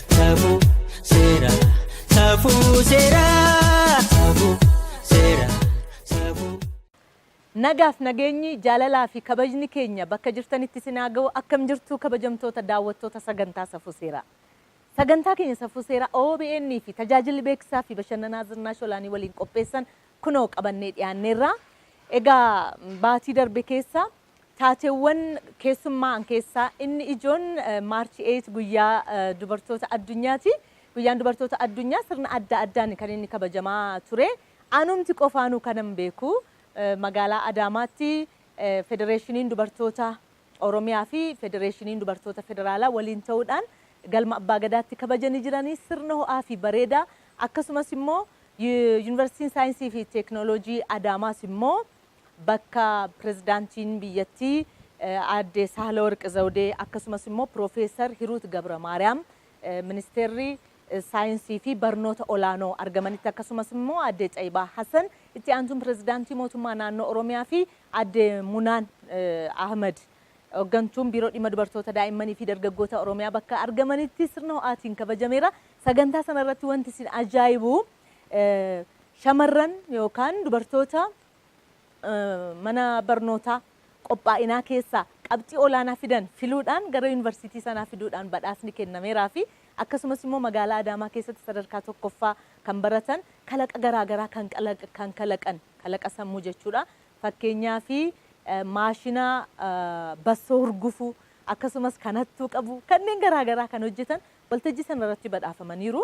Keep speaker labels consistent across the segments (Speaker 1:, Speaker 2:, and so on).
Speaker 1: Safuu seeraa safuu seeraa safuu seeraa safuu.
Speaker 2: Nagaaf nageenyi jaalalaa fi kabajni keenya bakka jirtanitti isin haa ga'u akkam jirtu kabajamtoota daawwattoota sagantaa safuu seeraa. Sagantaa keenya safuu seeraa OBN fi tajaajilli beeksisaa fi bashannanaa Zirnaash Olaanii waliin qopheessan kunoo qabannee dhiyaanneerra. Egaa baatii darbe keessa Taateewwan keessummaa'an keessaa inni ijoon March 8 guyyaa dubartoota addunyaati. Guyyaan dubartoota addunyaa sirna adda addaan kan inni kabajamaa ture. Anumti qofaanuu kanan beeku magaalaa Adaamaatti Federeeshiniin Dubartoota Oromiyaa fi Federeeshiniin Dubartoota Federaalaa waliin ta'uudhaan Galma Abbaa Gadaatti kabajanii jiranii sirna ho'aa fi bareedaa akkasumas immoo Yuunivarsiitiin Saayinsii fi Teeknooloojii Adaamaas immoo bakka Pirezidaantiin biyyattii Aadde Saahilawarq Zawdee akkasumas immoo Piroofeesar Hiruut Gabramaariyaam Ministeerri Saayinsii fi Barnoota Olaanoo argamanitti akkasumas immoo Aadde Xayibaa Hasan Itti Aantuun Pirezidaantii Mootummaa Naannoo Oromiyaa fi Aadde Munaan Ahmad Hoggantuun Biiroo Dhimma Dubartoota Daa'immanii fi Dargaggoota Oromiyaa bakka argamanitti sirna ho'aatiin kabajameera. Sagantaa sana irratti wanti isin ajaa'ibu Shamarran yookaan dubartoota mana barnootaa qophaa'inaa keessaa qabxii olaanaa fidan filuudhaan gara Yuunivarsiitii sanaa fiduudhaan badhaasni kennameeraafi akkasumas immoo magaalaa Adaamaa keessatti sadarkaa 1ffaa kan baratan kalaqa garaa garaa kan kalaqan kalaqa sammuu jechuudha. Fakkeenyaaf maashina bassoo hurgufu akkasumas kan hattuu qabu kanneen garaa garaa kan hojjetan waltajjii sanarratti badhaafamaniiru.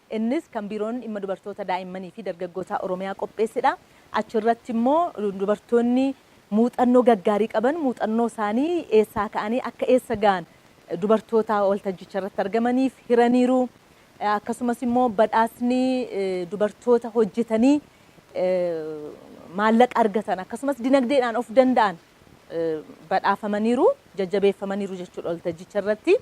Speaker 2: Innis kan Biiroon Dhimma Dubartoota, Daa'immanii fi Dargaggootaa Oromiyaa qopheessedha. Achirratti immoo dubartoonni muuxannoo gaggaarii qaban muuxannoo isaanii eessaa ka'anii akka eessa ga'an dubartoota waltajjicha irratti argamaniif hiraniiru. Akkasumas immoo badhaasni dubartoota hojjetanii maallaqa argatan akkasumas dinagdeedhaan of danda'an badhaafamaniiru, jajjabeeffamaniiru jechuudha waltajjicha irratti.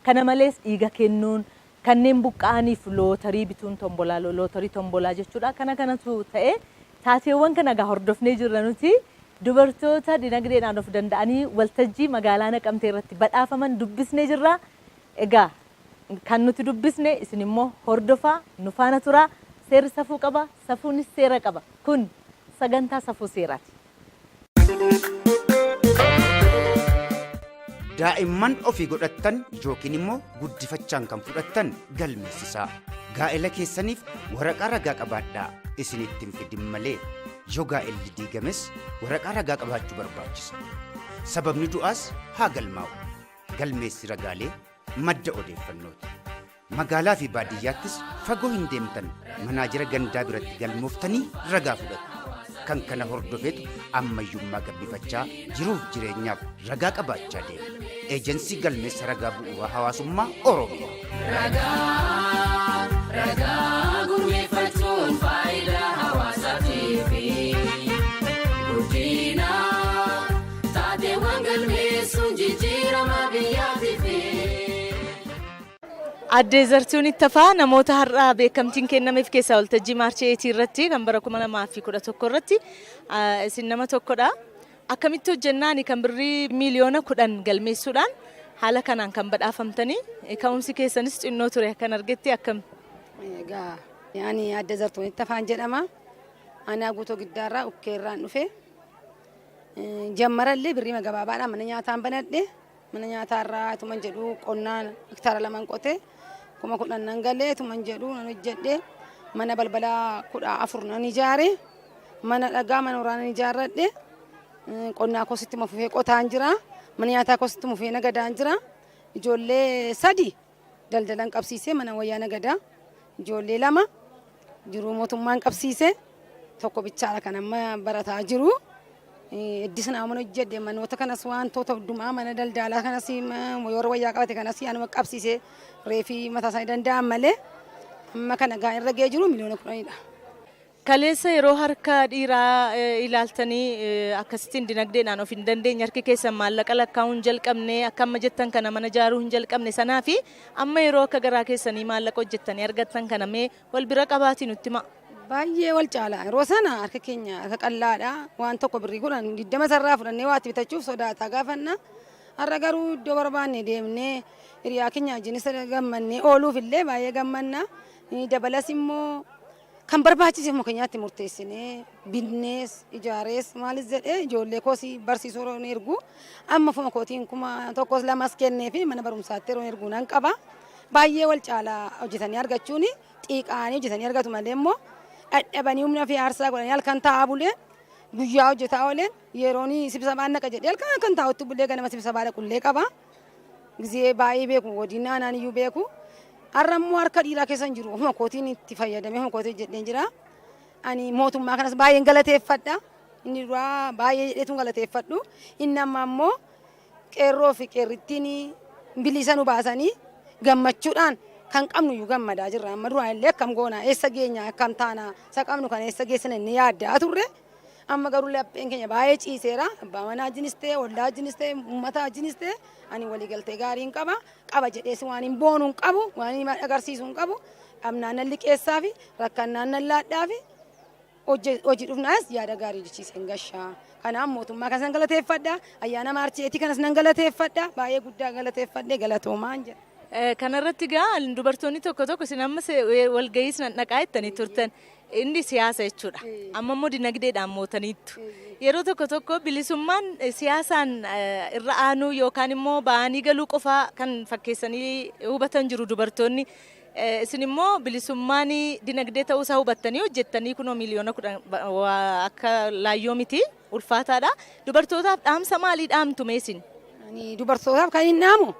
Speaker 2: Kana malees dhiiga kennuun, Kanneen buqqa'aniif lootarii bituun tombolaa, lootorii tombolaa jechuudha. Kana kanatu ta'e. Taateewwan kana egaa hordofnee jirra nuti. Dubartoota dinagdeedhaan of danda'anii waltajjii magaalaa Naqamtee irratti badhaafaman dubbisnee jirra. Egaa kan nuti dubbisne isin immoo hordofaa, nu faana turaa. Seerri safuu qaba, safuunis seera qaba. Kun sagantaa Safuu Seeraati.
Speaker 3: daa'imman ofii godhattan yookiin immoo guddifachaan kan fudhattan galmeessisaa gaa'ela keessaniif waraqaa ragaa qabaadhaa isinitti hin fidin malee yoo gaa'elli diigames waraqaa ragaa qabaachuu barbaachisa sababni du'aas haa galmaa'u galmeessi ragaalee madda odeeffannooti Magaalaa fi baadiyyaattis fagoo hin deemtan manaajera gandaa biratti galmooftanii ragaa fudhattu. Kan kana hordofeetu ammayyummaa gabbifachaa jiruuf jireenyaaf ragaa qabaachaa deema. Eejensii Galmeessa Ragaa Bu'uuraa Hawaasummaa Oromiyaa. Ragaa, ragaa gurmeeffachuun faayidaa hawaasaatiif guddina taateewwan galmeessuun jijjiirama biyyaatiif.
Speaker 2: Aadde Zartuun Ittafaa namoota har'a beekamtiin kennameef keessaa waltajjii Maarchi 8 irratti kan bara 2011 irratti isin nama tokkodha. Akkamitti hojjennaani kan birrii miiliyoona 10 galmeessuudhaan haala kanaan kan badhaafamtanii ka'umsi keessanis xinnoo ture kan argetti akkam? Egaa
Speaker 4: ani Aadde Zartuun Ittafaan jedhama. Aanaa Guutoo Giddaarraa Ukkeerraan dhufe. Jammarallee birrii magabaabaadhaan mana nyaataan banadhe. Mana nyaataa irraa ituman jedhu qonnaan hektaara laman qotee kuma kudhan nan galee ituman jedhu nan hojjedhe mana balbala kudha afur nan ijaare mana dhagaa mana horaa nan ijaarradhe qonnaa kositti mafufee qotaan jira mana nyaataa kositti mufee nagadaan jira ijoollee sadi Daldalan qabsiisee mana wayyaa nagadaa ijoollee lama jiruu mootummaan qabsiisee tokko bichaadha kan amma barataa jiru. Iddis naamon hojjedhe manoota kanas wantoota hundumaa mana daldaalaa kanas warra wayyaa qabate kanas anuma qabsiisee reefii mataa isaanii danda'an malee amma kana gaa irra ga'ee jiru miliyoona kudhanidha. Kaleessa
Speaker 2: yeroo harka dhiiraa ilaaltanii akkasittiin dinagdeedhaan of hin dandeenye harki keessan maallaqa lakkaa'uu hin jalqabne akka amma jettan kana mana ijaaruu hin jalqabne sanaa fi amma yeroo akka garaa keessanii maallaqa hojjettanii argattan kana mee wal bira qabaatii nutti himaa. Baay'ee wal caala.
Speaker 4: Yeroo sana harka keenya harka qallaadha. Waan tokko birrii kudhan digdama sarraa fudhannee waatti bitachuuf sodaataa gaafanna. Har'a garuu iddoo barbaanne deemnee hiriyaa keenya wajjinis gammannee ooluuf illee baay'ee gammanna. Dabalas immoo Kan barbaachise ofuma keenyaatti murteessinee, binnees, ijaarees, maalis jedhee ijoollee koos barsiisuu yeroo hin ergu. Amma ofuma kootiin kuma tokkos lamas kennee fi mana barumsaatti yeroo ergu nan qaba. Baay'ee wal caala hojjetanii argachuun xiiqaanii hojjetanii argatu malee immoo dhadhabanii humna fi aarsaa godhanii halkan taa'aa bulee guyyaa hojjetaa ooleen yeroon sibsabaan naqa jedhee halkan halkan taa'utti bulee ganama sibsabaa dhaqullee qaba. Gizee baay'ee beeku godina aanaan iyyuu beeku. Har'a immoo harka dhiiraa keessa hin jiru. Ofuma kootiin itti fayyadamee ofuma kootiin hojjedheen jira. Ani mootummaa kanas baay'een galateeffadha. Inni duraa baay'ee jedheetu hin galateeffadhu. Inni amma immoo qeerroo fi qeerrittiin bilisa nu baasanii gammachuudhaan kan qabnu iyyuu gammadaa jirra. Amma duraan illee akkam goona eessa geenya akkam taana isa qabnu kan eessa geessina inni yaaddaa turre. Amma garuu lapheen keenya baay'ee ciiseera. Abbaa manaa wajjinis ta'e, ollaa wajjinis ta'e, uummata wajjinis ta'e ani waliigaltee gaariin qaba. Qaba jedhees waan hin boonu hin qabu, waan hin agarsiisu hin qabu. Dhabnaan nan liqeessaa fi rakkannaan nan laadhaa fi hojii dhufnaas yaada gaarii jechiiseen gashaa. Kanaaf mootummaa kanas nan galateeffadha. Ayyaana maarcheetii kanas nan galateeffadha. Baay'ee guddaa galateeffadhe galatoomaan jedha. Kanarratti gaa
Speaker 2: dubartoonni tokko tokko isin amma walgahiis nan dhaqaa jettanii turtan. Inni siyaasa jechuudha. Amma immoo dinagdeedhaan mootaniittu. Yeroo tokko tokko bilisummaan siyaasaan irra aanuu yookaan immoo ba'anii galuu qofaa kan fakkeessanii hubatan jiru dubartoonni. Isin immoo bilisummaan dinagdee ta'uusaa hubattanii hojjettanii kunoo miliyoona kudhan akka laayyoo miti. ulfaataadha. Dubartootaaf dhaamsa maalii dhaamtu mee isin? Ani dubartootaaf
Speaker 4: kan hin dhaamu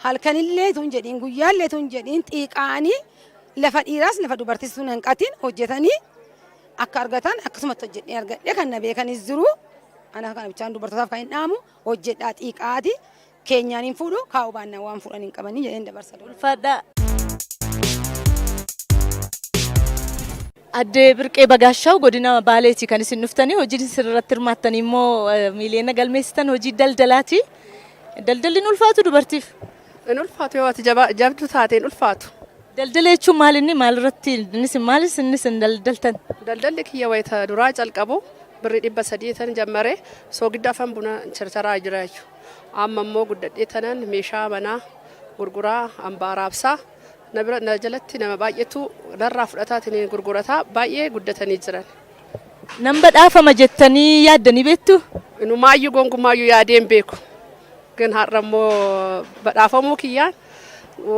Speaker 4: halkanillee tun jedhiin guyyaallee tun jedhiin xiiqaanii lafa dhiiraas lafa dubartiis tun hanqatiin hojjetanii akka argatan akkasumatti hojjedhee argadhee kan na beekanis jiru. Ana kana bichaan dubartootaaf kan hin dhaamu hojjedhaa xiiqaati keenyaan hin fuudhu kaa'uu baannaan waan fuudhan hin qabanii jedheen dabarsa. Ulfaadhaa.
Speaker 2: Addee Birqee Bagaashaaw godina Baaleeti kan isin dhuftanii hojiin isin irratti hirmaattanii immoo eh, miiliyoona galmeessitan hojii daldalaati. Daldalli hin ulfaatu dubartiif. Hin ulfaatu
Speaker 5: yoo ati jabaa- jabduu taate hin ulfaatu. Daldala jechuun
Speaker 2: maal inni maal irratti innis maalis innis hin daldaltan. Daldalli kiyya wayita
Speaker 5: duraa calqabu birri dhibba sadii tan jammare soogidda afaan buna charcharaa jira jechuudha. Amma immoo guddadhee tanan meeshaa manaa gurguraa, ambaa raabsaa, na bira na jalatti nama baay'eetu narraa fudhataatiin gurgurataa baay'ee guddatanii jiran. Nan
Speaker 2: badhaafama jettanii yaaddanii beektuu? Inumaayyuu
Speaker 5: gonkumaayyuu yaadee hin beeku. Gin har'a immoo badhaafamuu kiyyaan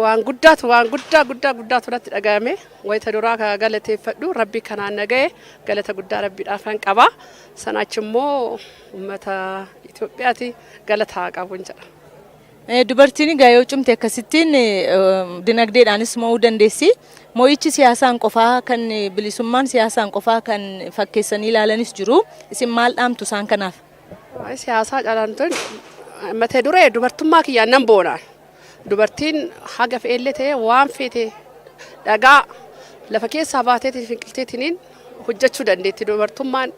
Speaker 5: waan guddaatu waan guddaa guddaa guddaatu natti dhaga'ame wayita duraa ka galateeffadhu rabbi kanaan na ga'e galata guddaa rabbiidhaafan qaba sana achi immoo Uummata Itoophiyaati galata haa qabuun jedha. Dubartiin
Speaker 2: egaa yoo cimte akkasittiin dinagdeedhaanis mo'uu dandeessi. Mo'ichi siyaasaan qofaa kan bilisummaan siyaasaan qofaa kan fakkeessanii ilaalanis jiru. Isin maal dhaamtu isaan kanaaf? Siyaasaa
Speaker 5: calaantoon mata duree dubartummaa kiyyaan nan boona. Dubartiin haga fe'ellee ta'ee waan feete dhagaa lafa keessaa baateetiin finqilteetiniin hojjechuu dandeetti. Dubartummaan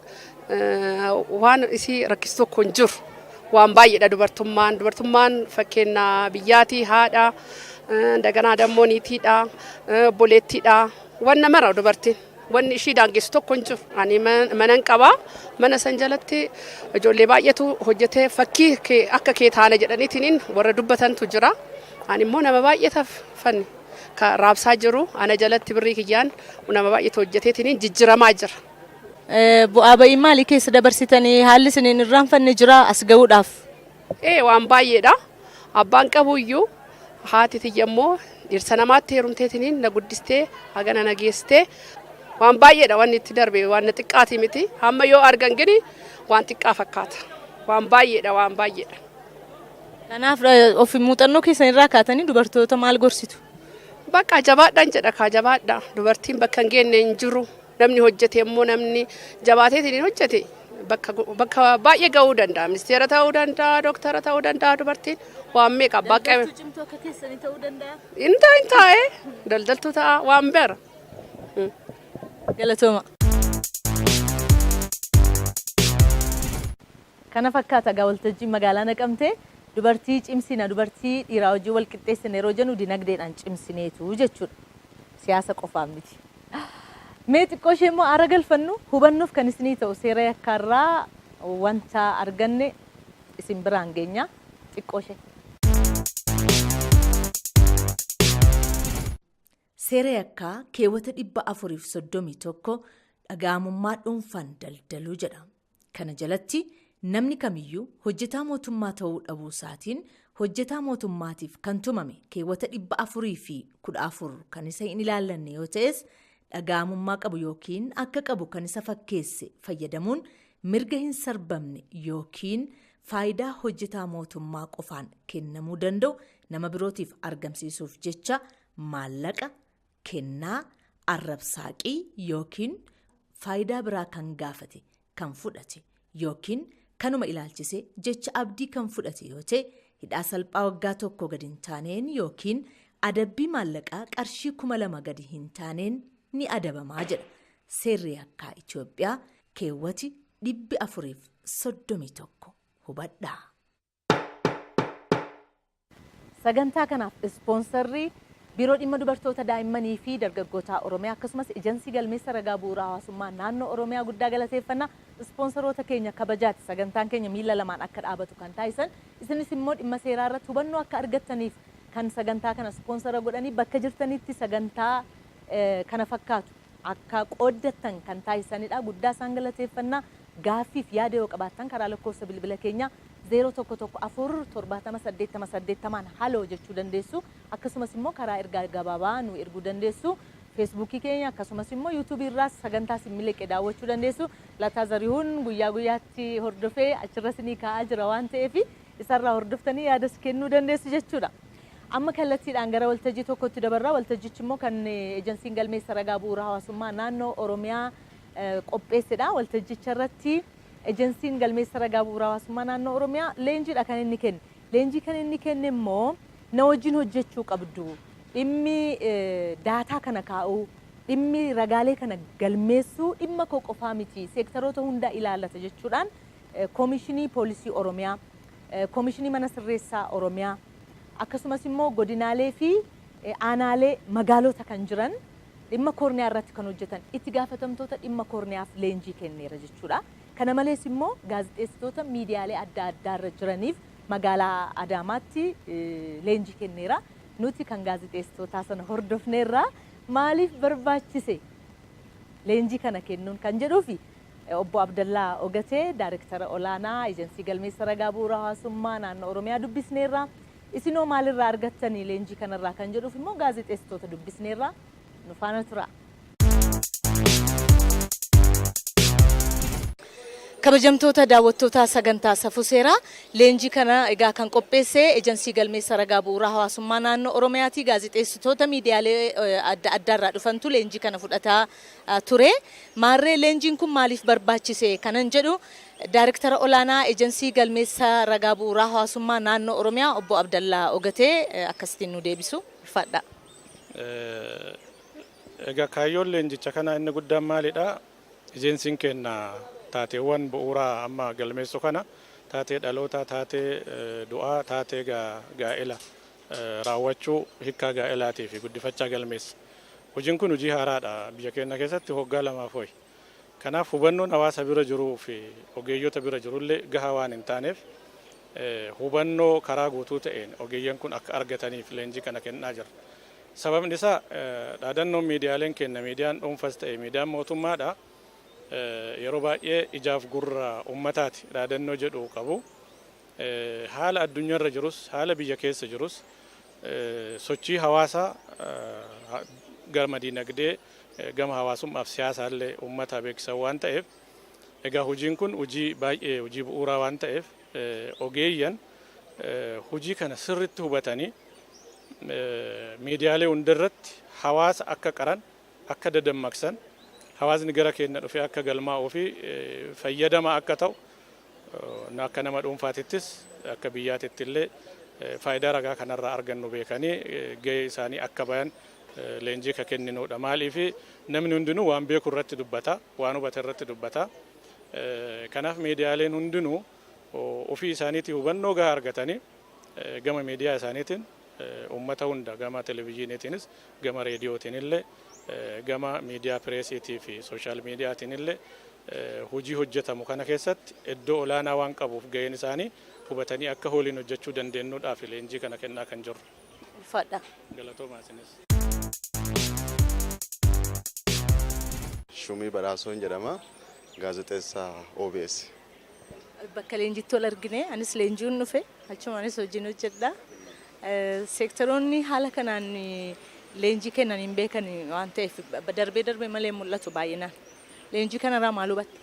Speaker 5: waan isii rakkisu tokko hin jiru. Waan baay'eedha dubartummaan. Dubartummaan fakkeenya biyyaatii haadha, daganaa dammoo niitiidha, obboleettiidha. Waan namara dubartiin. Wanni ishii daangessu tokko hin jiru. Ani manan qaba. Mana san jalatti ijoollee baay'eetu hojjetee fakkii kee akka kee taana jedhaniitiin warra dubbatantu jira. Ani immoo nama baay'eetaaf fanni ka raabsaa jiru ana jalatti birrii kiyyaan nama baay'eetu hojjeteetiin jijjiramaa jira. Bu'aa
Speaker 2: ba'ii maalii keessa dabarsitanii haalli isiniin irraanfanne jiraa as ga'uudhaaf? Ee waan
Speaker 5: baay'eedha. Abbaan qabu iyyuu haati tiyya immoo dhirsa namaatti heerumteetiniin na guddistee hagana na geessitee waan baay'eedha wanni itti darbe waan na xiqqaatii miti. Amma yoo argan gini waan xiqqaa fakkaata. Waan baay'eedha waan baay'eedha.
Speaker 2: Kanaaf of muuxannoo
Speaker 5: keessan
Speaker 2: irraa kaatanii dubartoota maal gorsitu?
Speaker 5: Bakka jabaadhaan jedha kaa jabaadha. Dubartiin bakka hin geenne hin jiru. Namni hojjete immoo namni jabaateetiin hojjete bakka bakka baay'ee ga'uu danda'a. Ministeera ta'uu danda'a, dooktara ta'uu danda'a dubartiin waan meeqa abbaa qabee. Daldaltuu cimtuu akka keessanii
Speaker 2: ta'uu danda'a. Inni taa'e hin taa'e
Speaker 5: daldaltuu ta'a waan beera. Galatooma.
Speaker 2: Kana fakkaata egaa waltajjiin magaalaa naqamtee dubartii cimsina dubartii dhiiraa wajjin wal qixxeessina yeroo jennu dinagdeedhaan cimsineetu jechuudha. Siyaasa qofaaf miti. Mee xiqqoo ishee immoo aara galfannu hubannoof kan isinii ta'u seera yakkaa irraa wanta arganne isin biraan geenya xiqqoo ishee. Seera yakkaa keewwata 431 dhaga'amummaa dhuunfaan daldaluu jedha. Kana jalatti namni kamiyyuu hojjetaa mootummaa ta'uu dhabuu isaatiin hojjetaa mootummaatiif kan tumame keewwata 414 kan isa hin ilaallanne yoo ta'es dhaga'amummaa qabu yookiin akka qabu kan isa fakkeesse fayyadamuun mirga hin sarbamne yookiin faayidaa hojjetaa mootummaa qofaan kennamuu danda'u nama birootiif argamsiisuuf jecha maallaqa, kennaa, arrab-saaqii yookiin faayidaa biraa kan gaafate, kan fudhate yookiin kanuma ilaalchisee jecha abdii kan fudhate yoo ta'e hidhaa salphaa waggaa tokkoo gadi hin taaneen yookiin adabbii maallaqaa qarshii kuma lama gadi hin taaneen ni adabamaa jedha seerri yakkaa Itoophiyaa keewwati dhibbi afuriif soddomii tokko hubadhaa. Sagantaa kanaaf ispoonsarri Biiroo Dhimma Dubartoota Daa'immanii fi Dargaggootaa Oromiyaa akkasumas Ejansii Galmeessa Ragaa Bu'uura Hawaasummaa Naannoo Oromiyaa guddaa galateeffanna. Ispoonsaroota keenya kabajaati sagantaan keenya miila lamaan akka dhaabatu kan taasisan. Isinis immoo dhimma seeraa irratti hubannoo akka argattaniif kan sagantaa kana ispoonsara godhanii bakka jirtanitti sagantaa kana fakkaatu akka qooddattan kan taasisanidha. Guddaa isaan galateeffanna. Gaaffii fi yaada yoo qabaattan karaa lakkoofsa bilbila keenyaa 0114 70 80 80n haloo jechuu dandeessu. Akkasumas immoo karaa ergaa gabaabaa nuu erguu dandeessu. Feesbuukii keenya akkasumas immoo Yuutuubii irraas sagantaa isin miliqe daawwachuu dandeessu. Lataa Zarihun guyyaa guyyaatti hordofee achirra isinii kaa'aa jira waan ta'eef isarraa hordoftanii yaadas kennuu dandeessu jechuudha. Amma kallattiidhaan gara waltajjii tokkotti dabarra. Waltajjichi immoo kan ejensiin galmeessa ragaa bu'uura hawaasummaa naannoo Oromiyaa qopheessedha. Waltajjicha irratti ejensiin galmeessa ragaa bu'uura hawaasummaa naannoo Oromiyaa leenjiidha kan inni kenne. Leenjii kan inni kenne immoo na wajjin hojjechuu qabdu. Dhimmi daataa kana kaa'uu, dhimmi ragaalee kana galmeessuu dhimma koo qofaa miti. Seektaroota hundaa ilaallata jechuudhaan Koomishinii Poolisii Oromiyaa, Koomishinii Mana Sirreessaa Oromiyaa, akkasumas immoo godinaalee fi aanaalee magaalota kan jiran dhimma koorniyaa irratti kan hojjetan itti gaafatamtoota dhimma koorniyaaf leenjii kenneera jechuudha. Kana malees immoo gaazexeessitoota miidiyaalee adda addaa irra jiraniif magaalaa Adaamaatti leenjii kenneera. Nuti kan gaazexeessitootaa sana hordofneerra. Maaliif barbaachise leenjii kana kennuun kan jedhuu fi Obbo Abdallaa Ogatee, Daarektara Olaanaa Ejensii Galmeessa Ragaa Bu'uura Hawaasummaa Naannoo Oromiyaa dubbisneerra. Isinoo maalirraa argattani leenjii kanarraa kan jedhuuf immoo gaazexeessitoota dubbisneerra. Nu faana turaa. Kabajamtoota daawwattoota sagantaa Safuu Seeraa, leenjii kana egaa kan qopheesse Ejensii Galmeessa Ragaa Bu'uura Hawaasummaa Naannoo Oromiyaati. Gaazexeessitoota miidiyaalee adda addaarraa dhufantu leenjii kana fudhataa ture. Maarree leenjiin kun maaliif barbaachise kanan jedhu Daayrektara Olaanaa Ejensii Galmeessa Ragaa Bu'uuraa Hawaasummaa Naannoo Oromiyaa Obbo Abdallaa Ogatee akkasitiin nuu deebisu. Ulfaadhaa.
Speaker 6: Egaa kaayyoon leenjicha kanaa inni guddaan maalidha? Ejensiin keenya taateewwan bu'uuraa amma galmeessu kana taatee dhalootaa, taatee du'aa, taatee gaa'ela raawwachuu hikkaa gaa'elaatii fi guddifachaa galmeessa. Hojiin kun hojii haaraadha biyya keenya keessatti hoggaa lamaaf ho'i. Kanaaf hubannoon hawaasa bira jiruu fi ogeeyyota bira jirullee gahaa waan hin taaneef hubannoo karaa guutuu ta'een ogeeyyan kun akka argataniif leenjii kana kennaa jirra. Sababni isaa dhaadannoon miidiyaaleen kenna miidiyaan dhuunfas ta'e miidiyaan mootummaadha yeroo baay'ee ijaaf gurra uummataati dhaadannoo jedhu qabu. Haala addunyarra jirus, haala biyya keessa jirus sochii hawaasaa gama dinagdee, gama hawaasummaaf siyaasaallee uummataa beeksisan waan ta'eef egaa hojiin kun hojii baay'ee hojii bu'uuraa waan ta'eef ogeeyyan hojii kana sirritti hubatanii miidiyaalee hundarratti hawaasa akka qaran, akka dadammaqsan, hawaasni gara keenna dhufee akka galmaa'uufi fayyadamaa akka ta'u Akka nama dhuunfaatittis akka biyyaatittillee faayidaa ragaa kanarraa argannu beekanii gahee isaanii akka bayan leenjii ka kenninuudha. Maaliif namni hundinuu waan beeku irratti dubbata, waan hubate irratti dubbata. Kanaaf miidiyaaleen hundinuu ofii isaaniitii hubannoo gahaa argatanii gama miidiyaa isaaniitiin uummata hunda gama televijiiniitiinis gama reediyootiinillee gama miidiyaa pireesiitii fi sooshaal miidiyaatiinillee hojii hojjetamu kana keessatti iddoo olaanaa waan qabuuf gaheen isaanii hubatanii akka hooliin hojjechuu dandeennuudhaaf leenjii kana kennaa kan jirru. Ulfaadha.
Speaker 2: Galatoomaa isinis.
Speaker 7: Shumii Badhaasoon jedhama. Gaazexeessaa OBS.
Speaker 2: Bakka leenjittu wal argine anis leenji'uun dhufe achumaanis hojiin hojjedha. Seektaroonni haala kanaan leenjii kennan hin beekan waan ta'eef darbee darbee malee mul'atu baay'inaan. Leenjii kanarraa maal hubatte?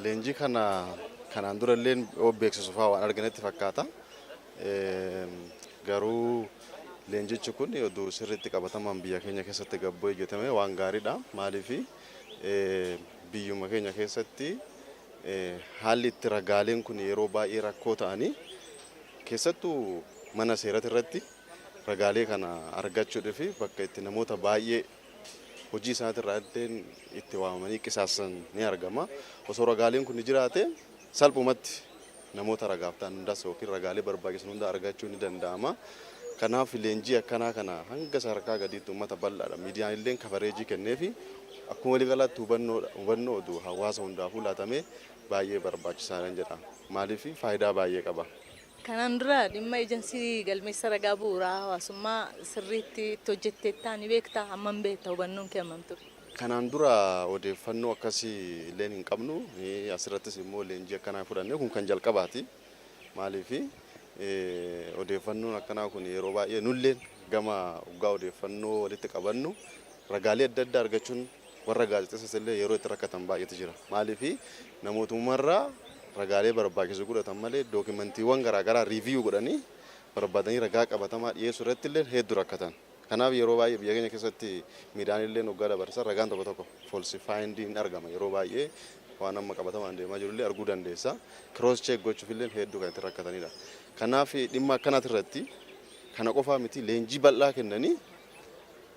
Speaker 2: Leenjii
Speaker 7: kana kanaan dura illee yoo beeksisu fa'aa waan arginetti fakkaata. Garuu leenjichi kun oduu sirriitti qabatamaan biyya keenya keessatti gabboo hojjetame waan gaariidha. Maaliif Biyyuma keenya keessatti haalli itti ragaaleen kun yeroo baay'ee rakkoo ta'anii keessattuu mana seerati irratti ragaalee kana argachuudhaa fi bakka itti namoota baay'ee hojii isaati irraa addeen itti waamamanii qisaasan ni argama. Osoo ragaaleen kun jiraate salphumatti Namoota ragaaf ta'an hundas ykn ragaalee barbaachisan hunda argachuun ni danda'ama. Kanaaf leenjii akkanaa kana hanga sadarkaa gadiitti uummata bal'aadha. Miidiyaan illee kabareejii kenneefi akkuma waliigalaatti hubannoo hubannoo oduu hawaasa hundaafuu laatamee baay'ee barbaachisaadhan jedha. Maaliif faayidaa baay'ee qaba. Kanaan dura
Speaker 2: dhimma ejansii galmeessa ragaa bu'uuraa hawaasummaa sirriitti itti hojjetteettaa ni beektaa? Hammam beekta? Hubannoon kee hammam ture? Kanaan dura
Speaker 7: odeeffannoo akkasii illeen hin qabnu. Asirrattis immoo leenjii akkanaa fudhannee kun kan jalqabaati. Maaliif odeeffannoon akkanaa kun yeroo baay'ee nulleen gama dhugaa odeeffannoo walitti qabannu ragaalee adda addaa argachuun warra gaazexessas illee yeroo itti rakkatan baay'eetu jira. Maaliif namootumarraa ragaalee barbaachisu godhatan malee dookimantiiwwan garaagaraa riiviyuu godhanii barbaadanii ragaa qabatamaa dhiyeessuu irratti illee hedduu rakkatan. Kanaaf yeroo baay'ee biyya keenya keessatti miidhaan illeen oggaa dabarsa ragaan tokko tokko foolsifaayiindii hin argama yeroo baay'ee waan amma qabatamaan deemaa jiru illee arguu dandeessa kiroos cheek gochuuf illeen hedduu kan itti rakkatanidha. Kanaaf dhimma akkanaati irratti kana qofaa miti leenjii bal'aa kennanii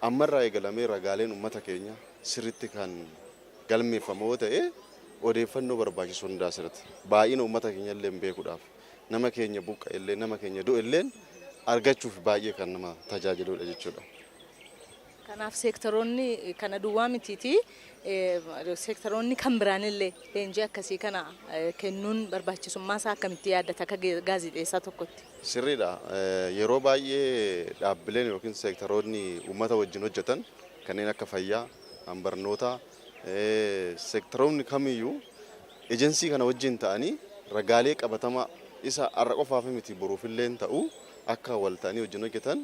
Speaker 7: amma irraa eegalamee ragaaleen ummata keenya sirritti kan galmeeffama yoo ta'e odeeffannoo barbaachisu hundaa sirritti baay'ina ummata keenya illee beekuudhaaf nama keenya buqqa'ellee, nama keenya du'elleen argachuuf baay'ee kan nama tajaajiluudha jechuudha.
Speaker 2: Kanaaf seektaroonni kana duwwaa mitiitii seektaroonni kan biraanillee leenjii akkasii kana kennuun barbaachisummaa isaa akkamitti yaaddata akka gaazexeessaa tokkotti? Sirriidha.
Speaker 7: Yeroo baay'ee dhaabbileen yookiin seektaroonni uummata wajjin hojjetan kanneen akka fayyaa, barnootaa, Seektaroonni kamiyyuu Ejensii kana wajjin ta'anii ragaalee qabatamaa isa har'a qofaaf miti boruufilleen ta'u akka wal ta'anii wajjin hojjetan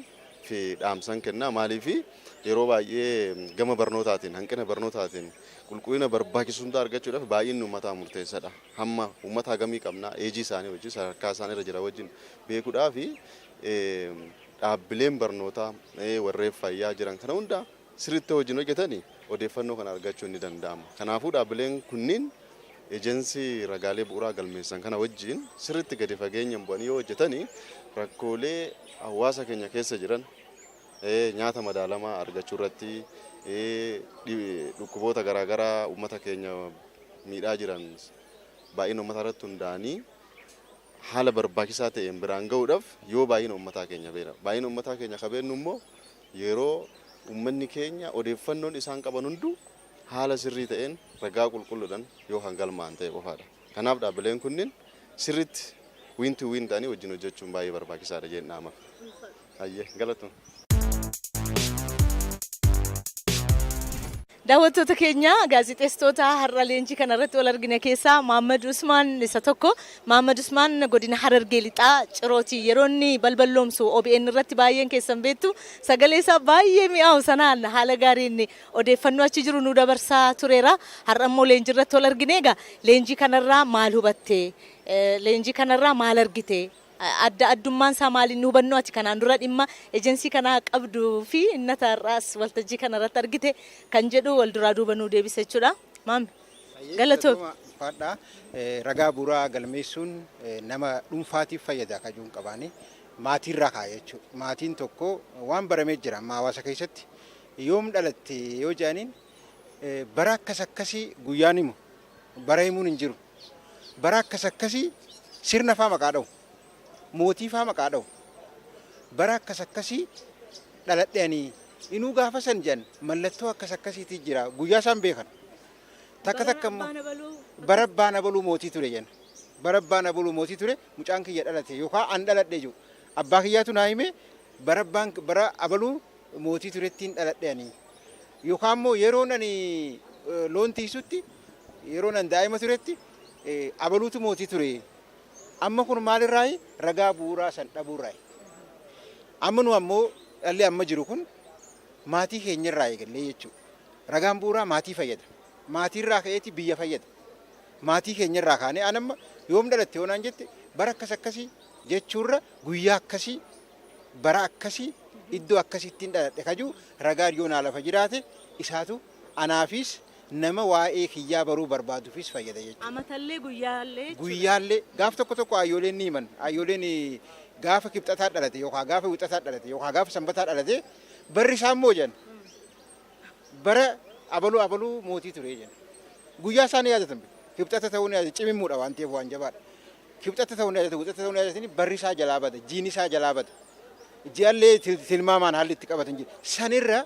Speaker 7: fi dhaamsan kenna. Maaliif yeroo baay'ee gama barnootaatiin, hanqina barnootaatiin qulqullina barbaachisu hundaa argachuudhaaf baay'inni uummataa murteessadha. Hamma uummata hagamii qabna eejii isaanii wajjin sadarkaa isaan irra jira wajjin beekuudhaaf dhaabbileen barnootaa warreen fayyaa jiran kana hundaa sirriitti yoo wajjin hojjetan odeeffannoo kana argachuun ni danda'ama. Kanaafuu dhaabbileen kunniin Ejensii ragaalee bu'uraa galmeessan kana wajjin sirriitti gadi fageenyan bu'anii yoo hojjetan rakkoolee hawaasa keenya keessa jiran nyaata madaalamaa argachuu irratti dhukkuboota garaa garaa uummata keenya miidhaa jiran baay'ina uummataa irratti hundaa'anii haala barbaachisaa ta'een biraan ga'uudhaaf yoo baay'ina uummataa keenya beekna. Baay'ina uummataa keenya akka beeknu immoo Yeroo ummanni keenya odeeffannoon isaan qaban hunduu haala sirrii ta'een ragaa qulqulludhan yoo kan galmaa'an ta'e qofaadha. Kanaaf dhaabbileen kunnin sirritti win to win ta'anii wajjin hojjachuun baay'ee barbaachisaadha jeen dhaama. Hayyee galatoma.
Speaker 2: Daawwattoota keenya, gaazexeessitoota har'a leenjii kana irratti wal argine keessaa Mahaammad Usmaan isa tokko. Mahaammad Usmaan godina Harargee Lixaa Cirooti. Yeroo inni balballoomsu obn irratti baay'een keessan beektu. Sagalee isaa baay'ee mi'aawu sanaan haala gaariin odeeffannoo achi jiru nuu dabarsaa tureera. Har'a immoo leenjii irratti wal argine. Egaa leenjii kanarraa maal hubatte? Leenjii kanarraa maal argite? Adda addummaan isaa maali? Inni hubannoo ati kanaan dura dhimma ejensii kanaa qabdu fi inni ati har'aas waltajjii kana irratti argite kan jedhu wal duraa duuba nuu deebisa jechuudha. Maami. Galatoomi. Galatooma ulfaadha.
Speaker 8: Eh, Ragaa bu'uuraa galmeessuun eh, nama dhuunfaatiif fayyada kan jiruun qabaani. Maatiirraa kaa'e jechuudha. Maatiin tokko waan baramee jira amma hawaasa keessatti yoom dhalatte yoo jedhaniin eh, bara akkas akkasii guyyaan himu Bara himuun hin jiru. Bara akkas akkasii sirna faa maqaa dhawu. Mootii faa maqaa dhawu. Bara akkas akkasii dhaladhe ani. Inuu gaafa san jedhan mallattoo akkas akkasiitii jira. Guyyaa isaan beekan. Takka takka immoo bara abbaan abaluu mootii ture jenna. Bara abbaan abaluu mootii ture mucaan kiyya dhalate yookaan an dhaladhe jiru. Abbaa kiyyaatu naa himee bara abbaan bara abaluu mootii turettiin dhaladhe ani. Yookaan immoo yeroon ani loon tiisutti yeroon ani daa'ima turetti abaluutu mootii ture. Amma kun maalirraayi ragaa bu'uuraa san dhabuurraayi. Amma nu ammoo dhalli amma jiru kun maatii keenyarraa eegallee jechuudha. Ragaan bu'uuraa maatii fayyada. Maatiirraa ka'eeti biyya fayyada. Maatii keenyarraa kaanee an amma yoom dhalatte yoo naan jette bara akkas akkasii jechuurra guyyaa akkasii bara akkasi iddoo akkasittin dhaladhe kaju ragaan yoo naa lafa jiraate isaatu anaafiis nama waa'ee kiyyaa baruu barbaadufis fayyada jechuudha. Amatallee guyyaallee
Speaker 2: jechuudha. Guyyaallee gaaf
Speaker 8: tokko tokko ayyooleen ni himan ayyooleen gaafa kibxataa dhalate yookaan gaafa wixataa dhalate yookaan gaafa sanbataa dhalate barri isaa immoo jedhan bara abaluu abaluu mootii ture jenna. Guyyaa isaa ni yaadatan bira. Kibxata ta'uu ni yaadatan. Cimimmuudha waan ta'eef waan jabaadha. Kibxata ta'uu ni yaadatan. Kibxata ta'uu ni yaadatanii barri isaa jalaa bada. Jiini isaa jalaa bada. Ji'allee til- tilmaamaan haalli itti qabatan jira. Sanirra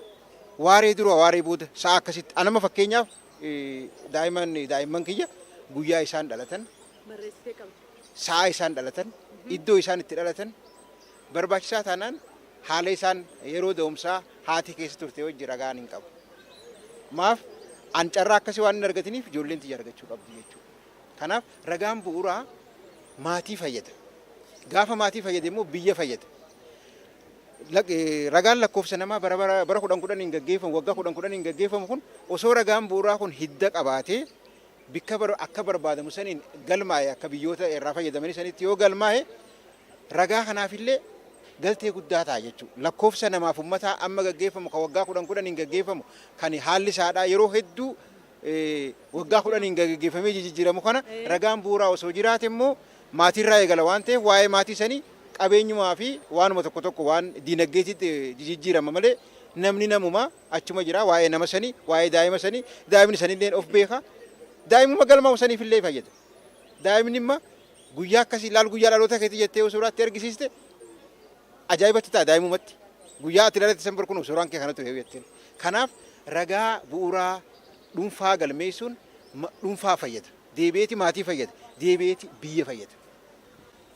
Speaker 8: waaree dura waaree booda sa'a akkasitti. Anama fakkeenyaaf eh, daa'imman daa'imman kiyya guyyaa isaan dhalatan Barreessitee qabda. sa'a isaan dhalatan, iddoo isaan itti dhalatan, barbaachisaa taanaan haala isaan yeroo da'umsaa haati keessa turte wajji ragaan hin qabu. Maaf an carraa akkasii waan hin argatiniif ijoolleen tiyya argachuu qabdi jechuudha. Kanaaf ragaan bu'uuraa maatii fayyada. Gaafa maatii fayyade immoo biyya fayyada. Lak- eh, Ragaan lakkoofsa namaa bara bara bara kudhan kudhaniin gaggeeffamu waggaa kudhan kudhaniin gaggeeffamu kun osoo ragaan bu'uuraa kun hidda qabaatee bikka bar- akka barbaadamu saniin galmaa'e akka biyyoota irraa fayyadamanii sanitti yoo galmaa'e Ragaa kanaaf illee galtee guddaa ta'a jechuudha. Lakkoofsa namaa fi ummataa amma gaggeeffamu kan waggaa kudhan kudhaniin gaggeeffamu kan haalli isaadhaa yeroo hedduu waggaa kudhaniin gaggeeffamee jijijjiiramu kana ragaan bu'uuraa osoo jiraate immoo maatiirraa eegala waan ta'eef waa'ee maatii sanii qabeenyumaa fi waanuma tokko tokko waan diinagdeetitti jijijjiirama malee namni namuma achuma jira waa'ee nama sanii waa'ee daa'ima sanii daa'imni sanillee of beeka daa'imuma galmaa'u saniif illee fayyada daa'imni imma Guyyaa akkasii ilaal guyyaa dhaloota keetii jettee yoo suuraa itti argisiiste ajaa'iba itti ta'a daa'imumatti. Guyyaa ati dhalatte san barkuun suuraan kee kanatu heewu jetteen. Kanaaf ragaa bu'uuraa dhuunfaa galmeessuun ma- dhuunfaa fayyada. Deebi'eeti maatii fayyada. Deebi'eeti biyya fayyada.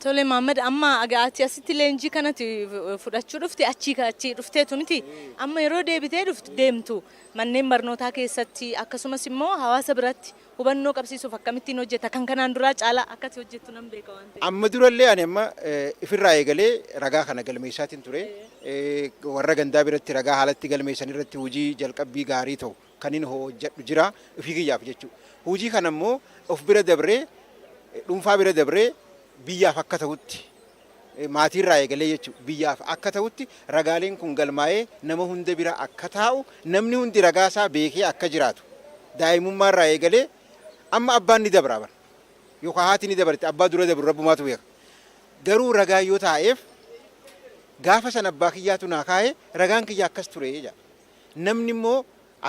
Speaker 8: Tole
Speaker 2: Maammad amma aga- ati asitti leenjii kanatti eh, fudhachuu dhufte achii ka- achii dhufteetu miti. Amma yeroo deebitee dhuftu deemtu manneen barnootaa keessatti akkasumas immoo hawaasa biratti Hubannoo qabsiisuuf akkamittiin hojjetta? Kan kanaan duraa caalaa akka ati hojjettu nan beeka waan ta'eef. Amma dura illee ani amma
Speaker 8: ifirraa eegalee ragaa kana galmeessaatiin ture. Warra gandaa biratti ragaa haala itti galmeessan irratti hojii jalqabbii gaarii ta'u kanin hojjedhu jira ofii kiyyaaf jechuudha. Hojii kana immoo of bira dabree dhuunfaa bira dabree biyyaaf akka ta'utti maatiirraa eegalee jechuudha biyyaaf akka ta'utti ragaaleen kun galmaa'ee nama hunda bira akka taa'u namni hundi ragaasaa beekee akka jiraatu daa'imummaarraa eegalee amma abbaan ni dabraa bara yookaan haati ni dabarti abbaa dura dabru rabbumaatu beeka garuu ragaa yoo taa'eef gaafa san abbaa kiyyaatu naa kaa'e ragaan kiyya akkas ture jedha namni immoo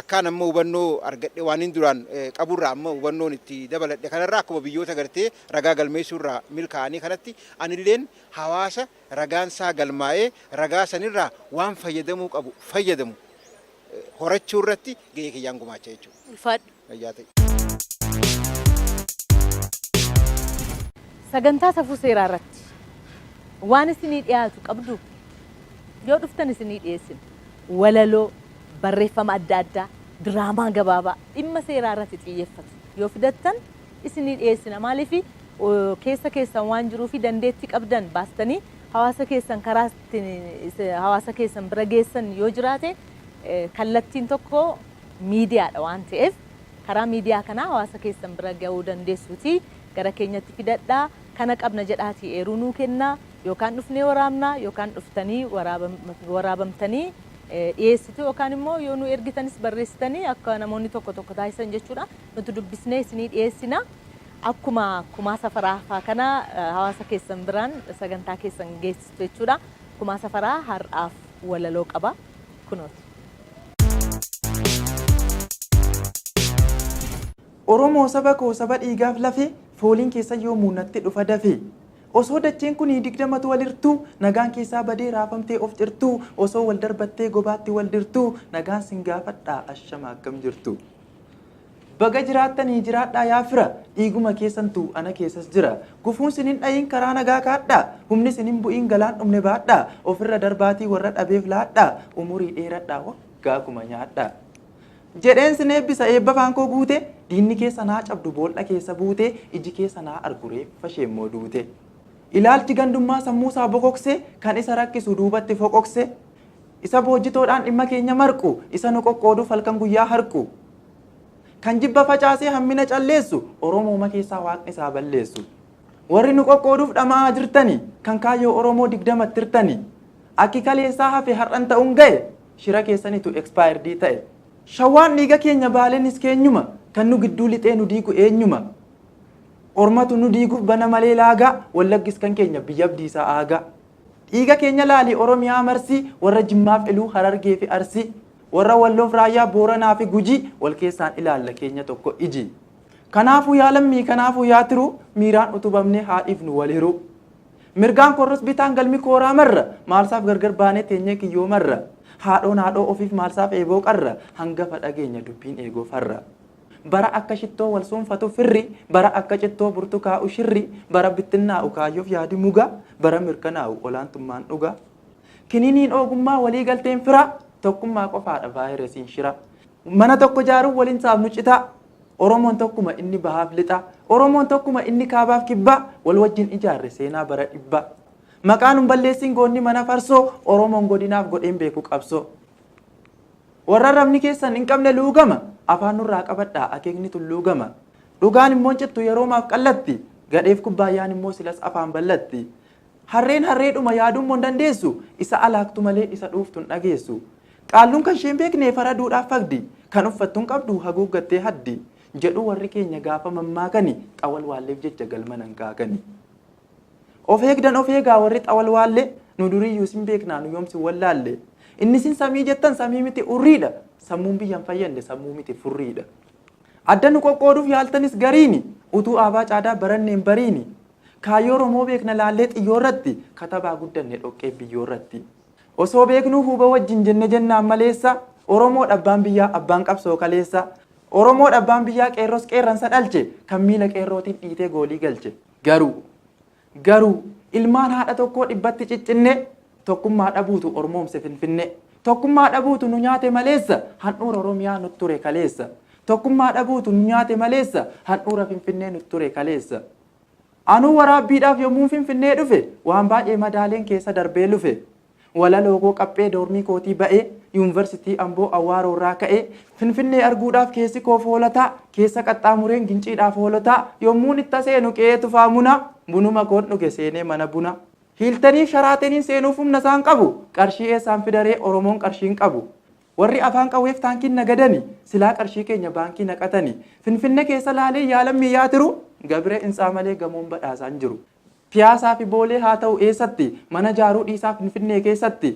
Speaker 8: Akkaan amma hubannoo argadhe waanin duraan qaburraa amma hubannoon itti dabaladhe kanarraa akkuma biyyoota gartee ragaa galmeessuurraa milkaa'anii kanatti anilleen hawaasa ragaansaa galmaa'ee ragaa sanirraa waan fayyadamuu qabu fayyadamu horachuurratti ga'ee kiyyaan gumaacha jechuudha. Ulfaadhu. Fayyaa ta'i.
Speaker 2: Sagantaa safuu seeraa irratti waan isinii dhiyaatu qabduu? Yoo dhuftan isinii dhiyeessina. walaloo, barreeffama adda addaa, diraamaa gabaabaa dhimma seeraa irratti xiyyeffatu yoo fidattan isinii dhiyeessina. Maaliif keessa keessan waan jiruu fi dandeettii qabdan baastanii hawaasa keessan karaa ittiin hawaasa keessan bira geessan yoo jiraate kallattiin tokko miidiyaadha waan ta'eef karaa miidiyaa kanaa hawaasa keessan bira ga'uu dandeessuutii gara keenyatti fidadhaa kana qabna jedhaatii eeruu nuu kennaa. Yookaan dhufnee waraabnaa yookaan dhuftanii waraabamtanii dhiyeessitu yookaan immoo yoo nu ergitanis barreessitanii akka namoonni tokko tokko taasisan jechuudha. Nuti dubbisnee isinii dhiyeessina. Akkuma kumaa safaraa faa kana hawaasa keessan biraan sagantaa keessan geessistu jechuudha. Kumaa safaraa har'aaf walaloo qaba. Kunooti.
Speaker 9: Oromoo saba koo saba dhiigaaf lafee fooliin keessan yoomuu natti dhufa dafee Osoo dacheen kun digdamatu wal hirtuu Nagaan keessaa badee raafamtee of cirtuu Osoo wal darbattee gobaatti wal dirtuu Nagaan sin gaafadha ashama akkam jirtu Baga jiraattanii jiraadhaa yaa fira Dhiiguma keessantu ana keessas jira Gufuun sin hin dha'iin karaa nagaa kaadhaa Humni sin hin bu'iin galaan dhumne baadhaa Ofirra darbaatii warra dhabeef laadhaa Umurii dheeradhaa waggaa kuma nyaadhaa. Jedheen sin eebbisa eebba afaan koo guute Diinni keessan haa cabdu bool'a keessa buute Iji keessan haa argu reeffa ishee immoo duute Ilaalchi gandummaa sammuu isaa bokokse Kan isa rakkisu duubatti foqoqse Isa boojjitoodhaan dhimma keenya marqu Isa nu qoqqooduuf halkan guyyaa harqu Kan jibba facaasee hammina calleessu Oromooma keessaa waaqni isaa balleessu Warri nu qoqqooduuf dhama'aa jirtani Kan kaayyoo Oromoo digdamatti hirtani Akki kaleessaa hafe har'an ta'uun ga'e Shira keessanitu expired ta'e. Shawaan dhiiga keenya Baalenis keenyuma Kan nu gidduu lixee nu diigu eenyuma Ormatu nu diiguf bana malee laagaa Wallaggis kan keenya biyya Abdiisaa Aagaa Dhiiga keenya laali Oromiyaa marsii Warra Jimmaaf Iluu Harargeefi Arsii Warra Walloof Raayyaa Booranaafi Gujii Wal keessaan ilaalla keenya tokko ijii Kanaafuu yaa lammii kanaafuu yaa tiruu Miiraan utubamnee haa dhiifnu wal hiruu. Mirgaan koorras bitaan galmi kooraa marra, maalsaaf gargar baanee teenyee kiyyoo marra? Haadhoon haadhoo ofiif maalsaaf eeboo qarra, hangafa dhageenya dubbiin eegoo farra. Bara akka shittoo wal suunfatu firri, bara akka cittoo burtukaa'u shirri, bara bittinnaa'u kaayyoof yaadi muga, bara mirkanaa'u olaantummaan dhugaa. Kiniiniin oogummaa walii galteen firaa, tokkummaa qofaadha vaayiresiin shiraa. Mana tokko jaaruun waliin saafnu citaa. Oromoon tokkuma inni bahaaf lixaa, Oromoon tokkuma inni kaabaaf kibbaa, wal wajjin ijaarre seenaa bara dhibbaa. Maqaa nun balleessiin goonni mana farsoo, Oromoon godinaaf godheen beeku qabsoo. Warra arrabni keessan hin qabne luugama, afaan nurraa qabadhaa akeekni tulluu gama. Dhugaan immoo hin cittu yeroomaaf qallatti, gadheef kubbaayyaan immoo silas afaan ballatti. Harreen harreedhuma yaaduu immoo hin dandeessu, isa alaaktu malee isa dhuuftu hin dhageessu. Qaalluun kan isheen beekne faraduudhaaf fagdi, kan uffattu hin qabdu haguuggattee haddi, jedhu warri keenya gaafa mammaakani xawalwaalleef jecha galma nan kaakani. Of eegdan of eegaa warri xawalwaallee, nu duriiyyuu sin beeknaa nu yoom sin wallaalle. Inni sin samii jettan samii miti urriidha, sammuun biyya hin fayyadne sammuu miti furriidha. Adda nu qoqqooduuf yaaltanis gariini, utuu aabaa caadaa baranne hin bariini. Kaayyoo Oromoo beekna laallee xiyyoorratti, katabaa guddanne dhoqqee biyyoorratti. Osoo beeknuu huuba wajjin jenne jennaan maleessa Oromoodha abbaan biyyaa abbaan qabsoo kaleessa Oromoodha abbaan biyyaa qeerros qeerransa dhalche kan miila qeerrootiin dhiitee goolii galche garuu garuu ilmaan haadha tokkoo dhibbatti ciccinne tokkummaa dhabuutu ormoomse finfinne tokkummaa dhabuutu nu nyaate maleessa handhuura Oromiyaa nut ture kaleessa tokkummaa dhabuutu nu nyaate maleessa handhuura finfinnee nut ture kaleessa. Anuu waraabbiidhaaf yommuun Finfinnee dhufe waan baay'ee madaaleen keessa darbee lufe. Walalookoo qaphee doormii kootii ba'ee, Yuunvarsitii Amboo Awwaaroorraa ka'ee, Finfinnee arguudhaaf keessi koo foolataa, keessa qaxxaamureen Ginciidhaaf Hoolotaa, yommuun itta seenu qe'ee Tufaa Munaa, bunuma koon dhuge seenee mana bunaa. Hiiltaniif Sharaateniin seenuuf humna isaan qabu, qarshii eessaan fidaree Oromoon qarshii hin qabu. Warri afaan qawweef taankiin nagadani silaa qarshii keenya baankii naqatani. Finfinne keessa laalee yaa lammii yaa tiru gabira intsaa malee gamoon badhaasaa hin jiru. Piyaasaa fi boolee haa ta'u eessatti mana jaaruu dhiisaa finfinnee keessatti.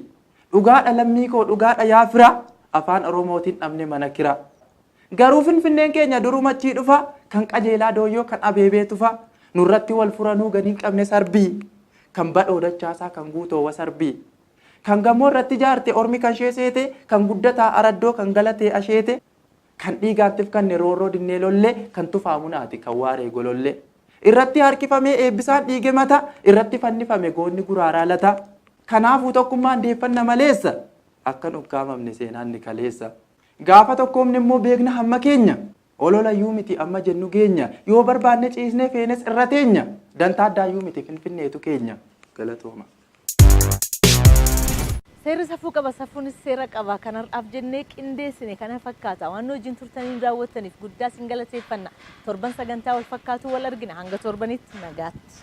Speaker 9: Dhugaadha lammii koo dhugaadha yaa fira afaan oromootiin dhabne mana kira. Garuu finfinneen keenya duruma achii dhufa kan qajeelaa dooyyoo kan abeebee tufa. Nurratti wal furanuu gad hin qabne sarbii. Kan badhoo dachaasaa kan guutoo wasarbii. Kan gamoo irratti ijaarte ormi kan ishee seete, kan guddataa araddoo kan galatee asheete, kan dhiigaan tifkanne roorroo dinnee lolle, kan tufaa munaate kan waaree gololle. Irratti harkifamee eebbisaan dhiige mata, irratti fannifame goonni guraaraa lata. Kanaafuu tokkummaan deeffanna maleessa, akkan ukkaamamne seenaan ni kaleessa. Gaafa tokkoomne immoo beekna hamma keenya. Olola yuu miti amma jennu geenya. Yoo barbaanne ciisnee feenes irra teenya. Dantaa addaa yuu miti finfinneetu keenya. Galatooma.
Speaker 2: Seerri safuu qaba, safuunis seera qaba. Kan har'aaf jennee qindeessine kana fakkaata. Waan nu wajjin turtanii nu daawwattaniif guddaa isin galateeffanna. Torban sagantaa wal fakkaatuun wal argina. Hanga torbanitti nagaatti.